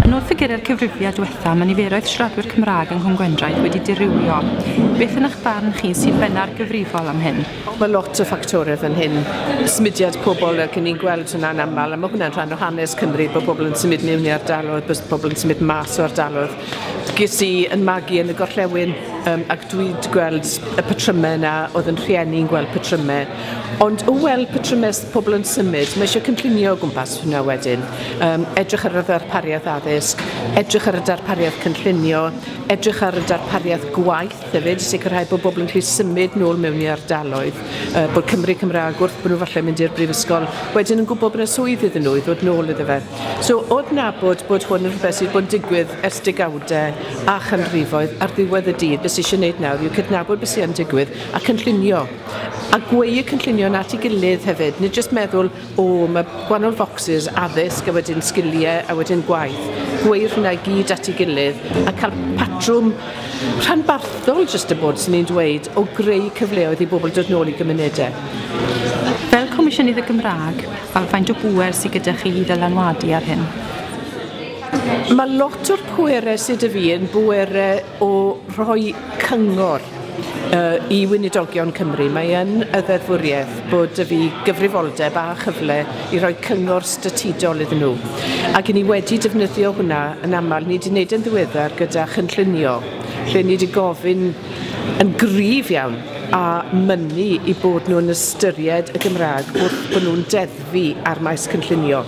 Yn ôl ffigurau'r cyfrifiad diwetha, mae niferoedd siaradwyr Cymraeg yng Nghwm Gwendraeth wedi dirywio. Beth yn eich barn chi sydd benna'r gyfrifol am hyn? Mae lot o ffactorau fan hyn. Symudiad pobl, ac ni'n gweld hwnna'n aml, a mae hwnna'n rhan o hanes Cymru, bod pobl yn symud mewn i ardaloedd, bod pobl yn symud mas o ardaloedd. Ges i yn magu yn y gorllewin, um, ac dwi'n gweld y patrymau yna, oedd yn rhieni'n gweld patrymau. Ond o weld patrymau pobl yn symud, mae eisiau cynllunio o gwmpas hynna wedyn. Um, edrych ar y ddarpariaeth addysg, edrych ar y darpariaeth cynllunio, edrych ar y darpariaeth gwaith hefyd, sicrhau bod bobl yn gallu symud nôl mewn i ardaloedd, uh, bod Cymru Cymraeg wrth bod nhw falle mynd i'r brifysgol, wedyn yn gwybod bod yna swydd iddyn nhw i ddod nôl iddo fe. So, oedd nabod bod hwn yn rhywbeth sydd bod yn digwydd ers degawdau a chanrifoedd ar ddiwedd y dydd, beth sydd eisiau gwneud nawr yw cydnabod beth sy'n digwydd a cynllunio a gweu y cynllunio 'na at ei gilydd hefyd, nid jyst meddwl, o, mae gwahanol focsys, addysg, a wedyn sgiliau, a wedyn gwaith. Gweu'r hynna i gyd at ei gilydd, a cael patrwm rhanbarthol, jyst y bod, 'swn i'n dweud, o greu cyfleoedd i bobl dod nôl i gymunedau. Fel Comisiynydd y Gymraeg, faint o bŵer sydd gyda chi i ddylanwadu ar hyn? Mae lot o'r pwerau sy 'da fi yn bwerau o roi cyngor uh, i Weinidogion Cymru. Mae yn y ddeddfwriaeth bod y fi gyfrifoldeb a chyfle i roi cyngor statudol iddyn nhw. Ac i ni wedi defnyddio hwnna yn aml, ni wedi gwneud yn ddiweddar gyda chynllunio, lle ni wedi gofyn yn gryf iawn a mynnu i bod nhw'n ystyried y Gymraeg wrth bod nhw'n deddfu ar maes cynllunio.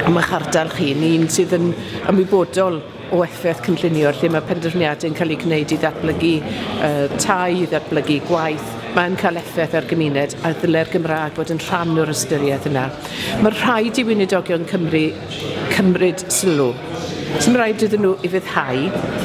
Am eich ardal chi, ni'n sydd yn ymwybodol o effaith cynllunio lle mae penderfyniadau yn cael eu gwneud i ddatblygu uh, tai, i ddatblygu gwaith, mae'n cael effaith ar gymuned a ddyle'r Gymraeg fod yn rhan o'r ystyriaeth yna. Mae rhaid i wynidogion Cymru cymryd sylw. Sy'n rhaid iddyn nhw i fyddhau,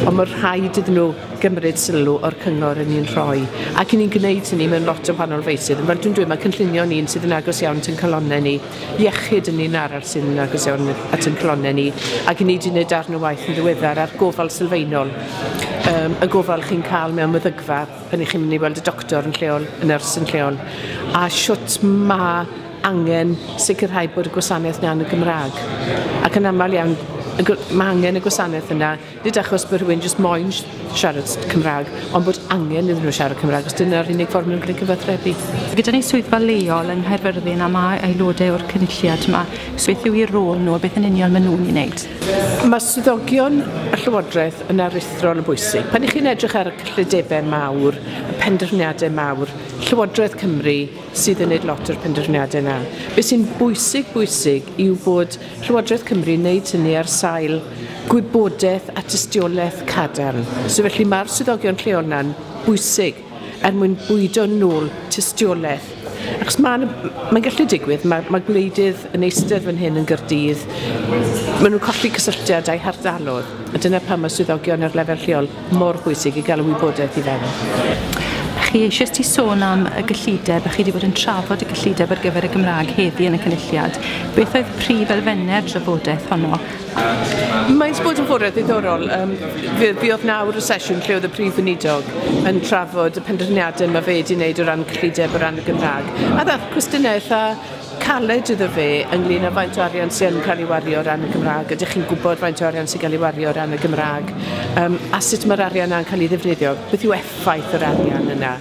ond mae rhaid iddyn nhw gymryd sylw o'r cyngor yn ni'n rhoi. Ac ni'n gwneud hynny mewn lot o wahanol feisydd. Fel dwi'n dweud, mae cynllunio ni'n sydd yn agos iawn at ein calonnau ni. iechyd yn un arall sydd yn agos iawn at ein calonnau ni ac i ni wedi gwneud darn o waith yn ddiweddar ar gofal sylfaenol um, y gofal chi'n cael mewn meddygfa pan i chi'n mynd i weld y doctor yn lleol, y nyrs yn lleol a siwt mae angen sicrhau bod y gwasanaeth yna yn y Gymraeg ac yn aml iawn mae angen y gwasanaeth yna Nid achos bod rhywun jyst moyn siarad Cymraeg, ond bod angen iddyn nhw siarad Cymraeg, os dyna'r unig ffordd maen nhw'n gallu cyfathrebu. Gyda ni swyddfa leol yng Nghaerfyrddin a mae aelodau o'r cynulliad yma, beth yw'i rôl nhw a beth yn union maen nhw'n ei wneud? Mae swyddogion y Llywodraeth yn aruthrol yn bwysig. Pan i chi'n edrych ar y cyllidebau mawr, y penderfyniadau mawr, Llywodraeth Cymru sydd yn gwneud lot o'r penderfyniadau yna. Beth sy'n bwysig, bwysig yw bod Llywodraeth Cymru'n wneud hynny ar sail gwybodaeth a tystiolaeth cadarn. So felly mae'r swyddogion lleol yna'n bwysig er mwyn bwydo nôl tystiolaeth. Achos mae'n mae gallu digwydd, mae, mae gwleidydd yn eistedd fan hyn yn Gyrdydd, maen nhw'n colli cysylltiad â'i hardalodd, a dyna pan mae swyddogion ar lefel lleol mor bwysig i gael y wybodaeth i fewn. Chi eisiau ti sôn am y gyllideb, a chi wedi bod yn trafod y gyllideb ar gyfer y Gymraeg heddi yn y cynulliad. Beth oedd prif elfennau'r drafodaeth honno? Mae'n bod yn fwriad ddiddorol. Um, fe, fe oedd nawr y sesiwn lle oedd y prif weinidog yn trafod y penderfyniadau mae fe wedi wneud o ran cyllideb o ran y Gymraeg. A ddath cwestiynau eitha caled iddo fe ynglyn â faint o arian sy yn cael ei wario o ran y Gymraeg. Ydych chi'n gwybod faint o arian sy'n cael ei wario o ran y Gymraeg? Um, a sut mae'r arian yna'n cael ei ddefnyddio? Beth yw effaith yr arian yna?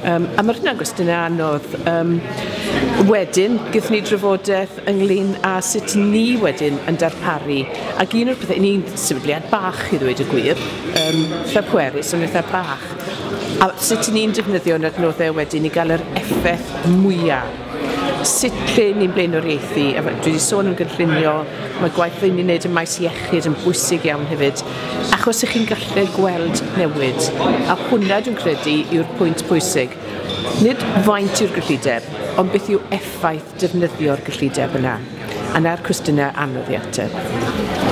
Um, a mae hynna'n gwestiynau anodd. Um, wedyn, gyda ni drafodaeth ynglyn â sut ni wedyn yn darparu. Ac un o'r pethau, ni'n sefydliad bach i ddweud y gwir, um, fel pwerus yn eitha bach. A sut ni'n defnyddio'n adnoddau wedyn i gael yr effaith mwyaf Sut ry'n ni'n blaenoriaethu, a dwi 'di sôn am gynllunio, mae gwaith ry'n ni'n wneud ym maes iechyd yn bwysig iawn hefyd, achos y'ch chi'n gallu gweld newid, a hwnna dwi'n credu yw'r pwynt pwysig. Nid faint yw'r gyllideb, ond beth yw effaith defnyddio'r gyllideb yna. Yn air cwestiynau anodd i ateb.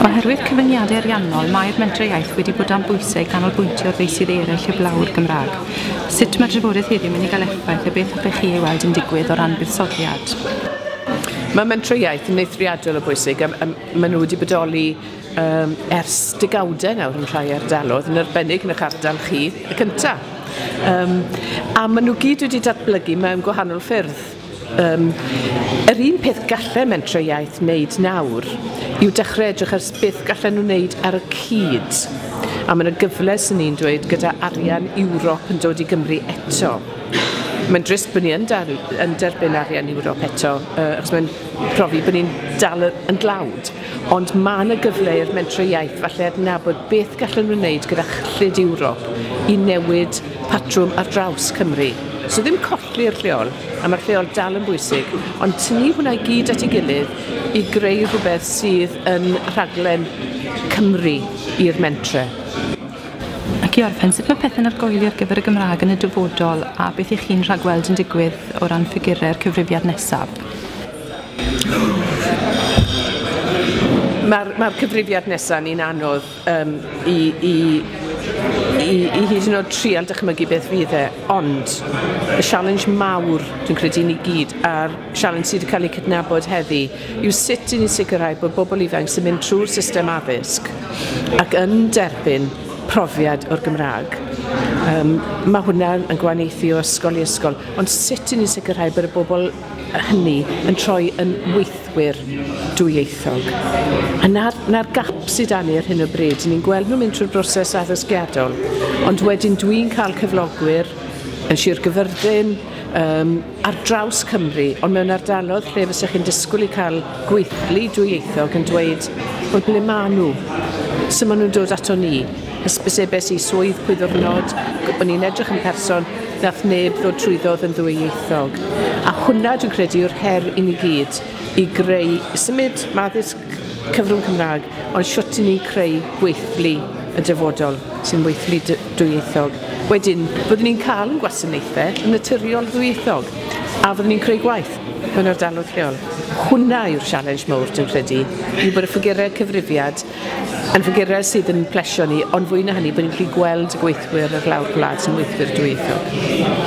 Oherwydd cyfyngiadau ariannol, mae'r Mentrau Iaith wedi bod dan bwysau i ganolbwyntio ar feysydd eraill heblaw'r Gymraeg. Sut mae drafodaeth heddiw mynd i gael effaith a beth hoffech chi ei weld yn digwydd o ran buddsoddiad? Mae Mentrau Iaith yn eithriadol o bwysig, a maen nhw wedi bodoli um, ers degawdau nawr yn rhai ardaloedd, yn arbennig yn eich ardal chi, y cyntaf. Um, a maen nhw gyd wedi datblygu mewn gwahanol ffyrdd. Yym, yr un peth gallen mentrau iaith wneud nawr yw dechrau edrych ar beth gallen nhw wneud ar y cyd. A mae 'na gyfle, 'swn i'n dweud, gyda arian Ewrop yn dod i Gymru eto. Mae'n drist bod ni yn dar- yn derbyn arian Ewrop eto, yy achos mae'n profi bod ni'n dal y- yn dlawd, ond mae 'na gyfle i'r mentrau iaith falle adnabod beth gallen nhw wneud gyda chyllid Ewrop i newid patrwm ar draws Cymru. So ddim colli'r lleol, a mae'r lleol dal yn bwysig, ond tynnu hwnna i gyd at ei gilydd i greu rhywbeth sydd yn rhaglen Cymru i'r mentre. Ac i orffen, sut mae pethau'n argoeli ar gyfer y Gymraeg yn y dyfodol a beth ych chi'n rhagweld yn digwydd o ran ffigurau'r cyfrifiad nesaf? Mae'r mae cyfrifiad nesaf ni'n anodd Yym, i, i, i, i hyd yn oed trial dychmygu beth fydd e, ond y sialens mawr, dwi'n credu i ni gyd, a'r sialens sydd wedi cael ei cydnabod heddi, yw sut i ni sicrhau bod bobl ifanc sy'n mynd trwy'r system addysg ac yn derbyn profiad o'r Gymraeg. Um, mae hwnna yn gwahaniaethu o ysgol i ysgol, ond sut i ni sicrhau bod y bobl hynny yn troi yn weithwyr dwyieithog. A 'na'r 'na'r gap sy 'da ni ar hyn o bryd. Ni'n gweld nhw'n mynd trwy'r broses addysgiadol, ond wedyn dwi'n cael cyflogwyr yn Sir Gyfyrddin, um, ar draws Cymru, ond mewn ardalodd lle fysa chi'n disgwyl i cael gweithlu dwyieithog yn dweud, wel, ble maen nhw? So maen nhw'n dod ato ni. Hysbysebais i swydd pwy ddiwrnod, o'n i'n edrych yn person, nath neb ddod trwyddodd yn ddwyieithog. A hwnna dwi'n credu yw'r her i ni gyd, i greu, symud ma addysg cyfrwng Cymraeg, ond shwt i ni'n creu gweithlu y dyfodol sy'n weithlu dy- dwyieithog. Wedyn, fyddwn ni'n cael yn gwasanaethe yn naturiol ddwyieithog, a fyddwn ni'n creu gwaith mewn ardaloedd lleol. Hwnna yw'r sialens mowr dwi'n credu, i bod y ffigurau cyfrifiad Yn fy gyrraedd sydd yn plesio ni, ond fwy na hynny, bod ni'n gallu gweld y gweithwyr ar lawr gwlad sy'n weithwyr dwyieithog.